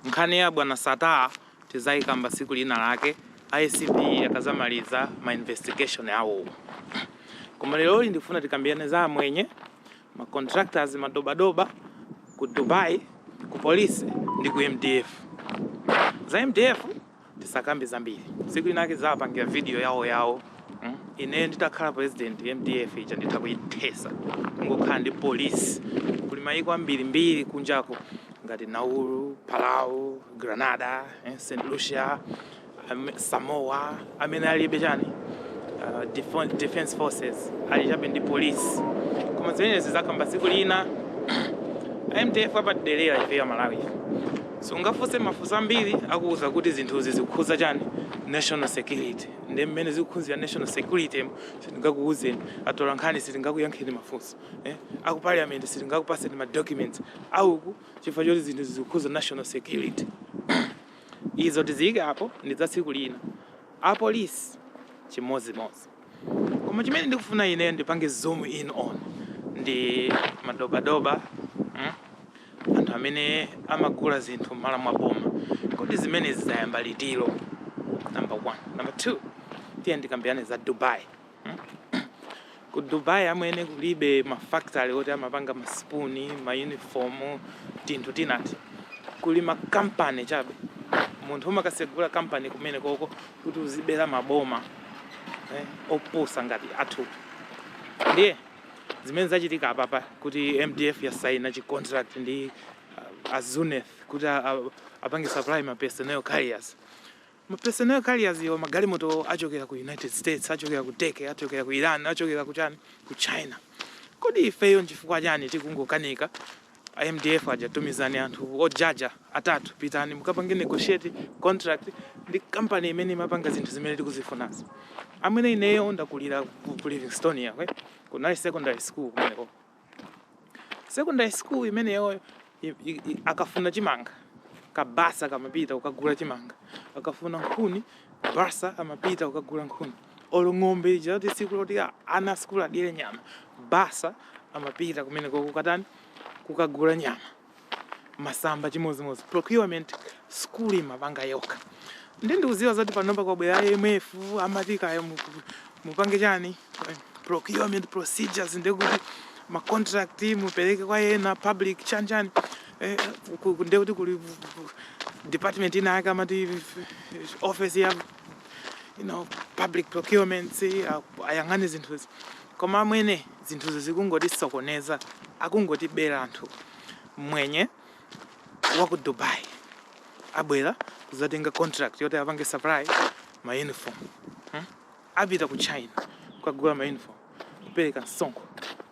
Nkhani ya bwana Sattar tizaikamba siku lina lake ACB akazamaliza ma investigation awo. Koma leroli ndikufuna tikambilane za amwenye, ma contractors, ma doba doba ku Dubai, ku police ndi ku mdf. Za mdf. tisakambe zambiri tsiku linake tizapangira video yawo yawo mm? ine nditakhala president mdf ija nditha kuyithesa ngokhala ndi polisi kuli mayiko ambirimbiri kunjako ngati nauru palau Grenada eh, st lucia am, samoa amene alibe chani uh, defon- defense forces ali chabe ndi polisi koma zimenezi tizakamba tsiku lina mdf apadelera ife aMalawi ife Sungafunse mafunso ambiri akuuza kuti zinthuzi zikukhudza chani national security nde mmene zikukhuzira national security mo sitingakuuzeni, atolankhani sitingakuyankheni mafunso eh, aku parliament sitingakupaseni ma documents awo chifukwa choti zinthuzi zikukhudza national security izo tiziike apo ndi za tsiku lina. Apolice chimodzimodzi. Koma chimene ndikufuna ineyo ndipange zoom in on ndi madobadoba mm, anthu amene amagula zinthu m'malo mwa boma. Kodi zimenezi zinayamba liti? Number one. Number two, tiyeni tikambirane za Dubai. mm. Ku Dubai amwene kulibe mafactory oti amapanga masipuni, maunifomu, tinthu tinati. Kuli makampani chabe. Munthu umakasegula kampani kumene koko kuti uzibera maboma eh, opusa ngati athu ndiye zimene zachitika apapa kuti mdf yasaina chi contract ndi uh, a Zuneth kuti uh, apange supply ma personnel carriers ma personnel carriers wo magalimoto achokera ku united states achokera ku turkey achokera ku iran achokera ku chani ku china kodi ifeyo nchifukwa chani tikungokanika A mdf aja tumizani anthu ojaja atatu pitani mukapange negotiate contract ndi company imene imapanga zinthu zimene tikuzifunazi. Amwene ineyo ndakulira ku ku Livingstonia uko kunali secondary school kumeneko. Secondary school imeneyo i- i- i- akafuna chimanga kabasa kamapita kukagula chimanga, akafuna nkhuni basa amapita kukagula nkhuni. olo ng'ombe ija kuti tsiku loti a- ana asukulu adye nyama basa amapita kumeneko kukatani kukagula nyama masamba chimodzimodzi procurement school imapanga yokha ndi ndikuziwa zakuti panopa kwabwera imf amati kaya mu- mupange chani procurement procedures ndekuti ma contract mupereke kwa ena public chanchani eh, ku- ku- ndekuti kuli department ina yake amati office ya you know, public procurements ayang'ane zinthuzi koma amwene zinthuzi zikungotisokoneza akungotibera anthu mwenye wa ku dubai abwera kuzatenga contract yoti apange supply ma uniform hmm? apita ku china kukagula ma uniform kupereka msonkho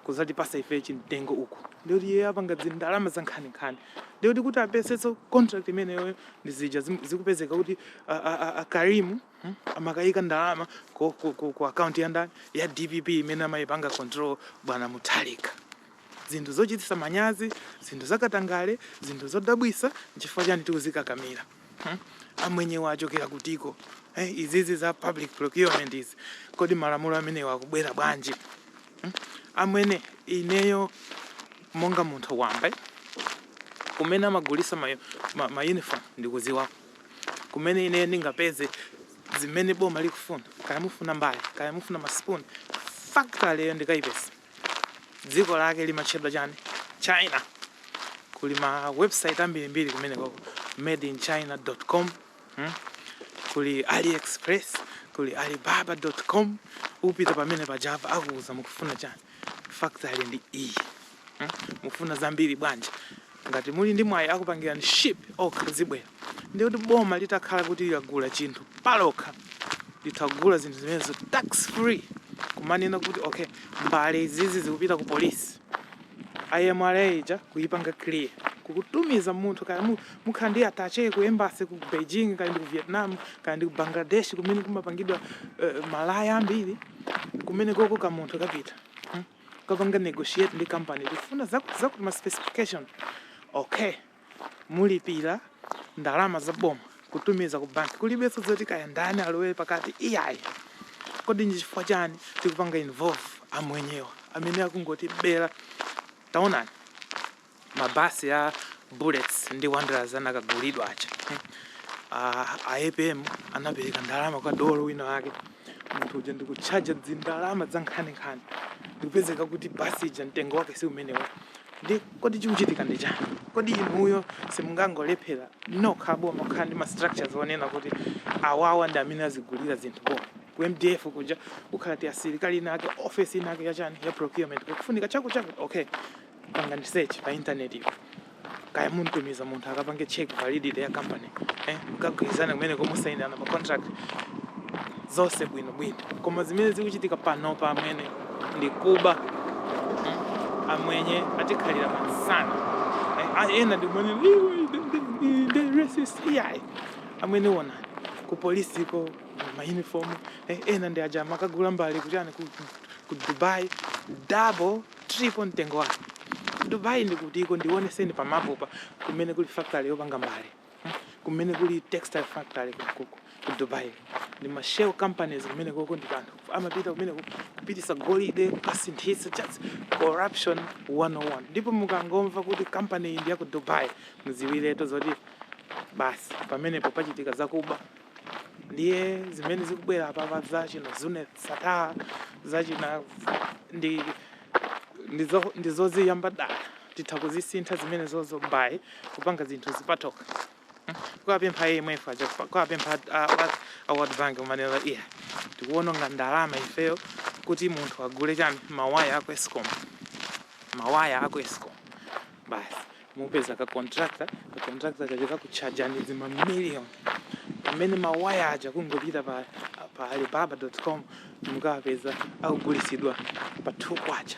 kuzatipasa ife chimtengo uku ndikuti iye apanga dzindalama za nkhaninkhani ndikuti kuti apezenso contract imeneyoyo ndi zija zim- zikupezeka kuti a- a- a- a karimu hmm, amakayika ndalama ku, ku, ku, ku akaunti ya ndani ya dpp imene amayipanga control bwana muthalika zinthu zochititsa manyazi zinthu zakatangale zinthu zodabwisa nchifukwa chani tikuzikakamira hmm? amwenyewa achokera kutiko hey, eh, izizi za public procurement izi kodi malamulo amenewa akubwera bwanji hmm? amwene ineyo monga munthu wamba kumene amagulisa ma, ma, ma uniform ndikuziwa kumene ineyo ndingapeze zimene boma likufuna kaya mufuna mbale kaya mufuna maspoon factory yo ndikayipeza dziko lake limatchedwa chani china kuli ma website ambirimbiri kumene koko made in china dot com hmm? kuli aliexpress kuli alibaba dot com upita pamene paja akuuza mukufuna chani factory ndi iyi hmm? mukufuna zambiri bwanji Ngati muli ndi mwayi akupangirani ship okha zibwera. Ndiye kuti boma litakhala kuti lagula chinthu palokha litha kugula zinthu zimenezo tax free kumanena kuti okay mbale izizi zikupita ku polisi MRA ija kuyipanga clear kukutumiza munthu kaya mu- mukhala ndi attache ku embassy ku Beijing kaya ndi ku Vietnam kaya ndi ku Bangladesh kumene kumapangidwa eh, malaya ambiri kumene koko ka munthu kapita Hmm? kukapanga negotiate ndi company tikufuna zakuti zakuti ma specification okay mulipira ndalama za boma kutumiza ku bank kulibenso zoti kaya ndani alowere pakati iyayi kodi ndi chifukwa chani tikupanga involve amwenyewa amene akungotibera taonani mabasi a bullets ndi wanderers anakagulidwa aja a apm anapereka ndalama kwa dolo wina wake munthu uja ndikutchaja dzindalama za nkhaninkhani ndikupezeka kuti basi ija mtengo wake si umenewo ndi kodi chikuchitika ndi chani kodi inuyo simungangolephera nokha boma kukhala ndi mastructures onena kuti awawa ndi amene azigulira zinthu boma ku mdf kuja kukhala kuti asilikali inake office inake yachani ya procurement kukufunika chakutichakuti okay pangani search pa internet apo kaya mumtumiza munthu akapange check validity ya company eh, mukagwirizana kumene komusainirana ma contract zonse bwino bwino koma zimene zikuchitika panopa amwenye ndi kuba hmm, amwenye atikhalira pa nsana eh, ena ndi amwenye amene ona ku polisiko ma uniform eh, ena ndi aja amakagula mbale kuchani ku, ku Dubai double Triple mtengo wake. Dubai ndi kutiko ndioneseni pa map pa kumene kuli factory yopanga mbale. Kumene kuli textile factory ku ku Dubai. Ndi ma shell companies kumenekoko ndi pa nthawi. Amapita kumene ku- kupitisa golide, kukasinthisa just corruption 101. Ndipo mukangomva kuti company iyi ndi ya ku Dubai, mudziwiretu zoti basi pamenepo pachitika zakuba ndiye zimene zikubwera apapa za China zonse sataa za China ndi ndizo- ndizoziyamba dala titha kuzisintha zimenezozo nkuyamba kupanga zinthu kusiya zoka kwapempha imf aja kwapempha a World Bank kumanena iya tikuwononga ndalama ifeyo kuti munthu agule chani mawaya aku escom mawaya aku escom basi mupeza ka contractor ka contractor kakutchajani zimamillion pamene mawaya aja kungopita pa, pa alibaba.com mukapeza akugulisidwa pa 2 kwacha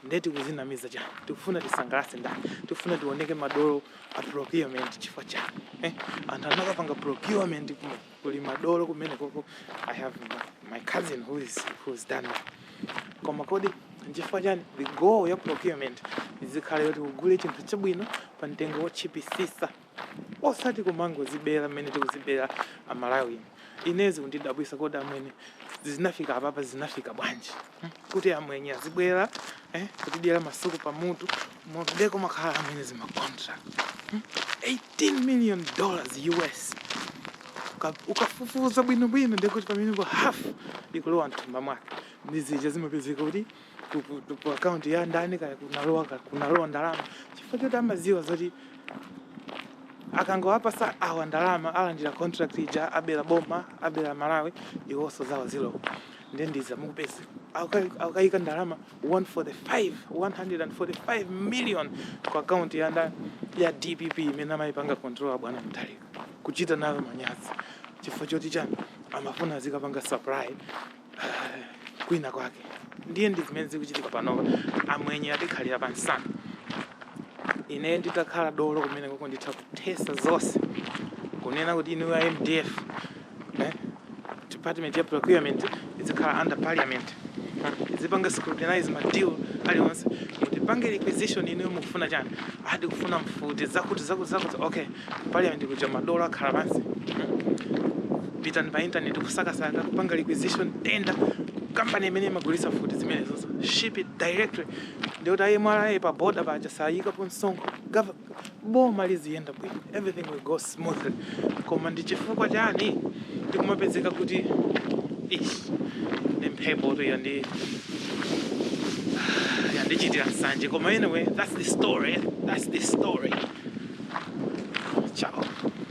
nde tikuzinamiza chani tikufuna tisangalase ndani tikufuna tioneke madolo a procurement chifukwa chani eh? anthu anakapanga procurement kuno kuli madolo kumenekoko i have my, my cousin who is, who has done that koma kodi nchifukwa chani the goal ya procurement izikhala yoti ugule chinthu chabwino pa mtengo wotchipisisa osati kumangozibera mmene tikuzibera amalawi ine zikundidabwisa kodi amwene zinafika apapa zinafika bwanji hmm, kuti amwenye azibwera eh, kutidyera masuku pamutu mudziko amakhala amwenye zimacontract 18 hmm, million dollars US ukafufuza bwinobwino ndekuti pamenepo half ikulowa mthumba mwake ndi zija zimapezeka kuti ku akaunti ya ndani kaya kunalowa kunalowa ndalama chifukwa choti amaziwa zoti akangowapasa awa ndalama alandira contract ija abera boma abera malawi iwonso zawo zilowa ndiye mudzamupeza Akuka- akukaika ndalama 145 145 million ku akaunti ya nda- ya dpp imene amayipanga control abwana Mutharika osachita nayo manyazi chifukwa choti chani amafuna azikapanga supply ah, kwina kwake ndiye ndi zimene zikuchitika panopa amwenye atikhalira pa nsana ine nditakhala dolo kumenekoko nditha kuthesa zonse kunena kuti inu a mdf eh? department ya procurement izikhala under parliament izipanga scrutinize ma deal aliwonse kuti pange requisition ino mufuna chani akufuna mfuti zakuti zakuti zakuti okay parliament kuja madolo akhala pansi pitani pa internet kusakasaka kupanga requisition tender company imene imagulitsa mfuti zimenezozo ship it directly ndikuti ayi mwalipira pa border paja sayikapo msonkho Gov- boma liziyenda bwino everything will go smoothly koma ndi chifukwa chani ndikumapezeka kuti ish ndi mphepo tu yandichitira nsanje koma anyway that's the story that's the story ciao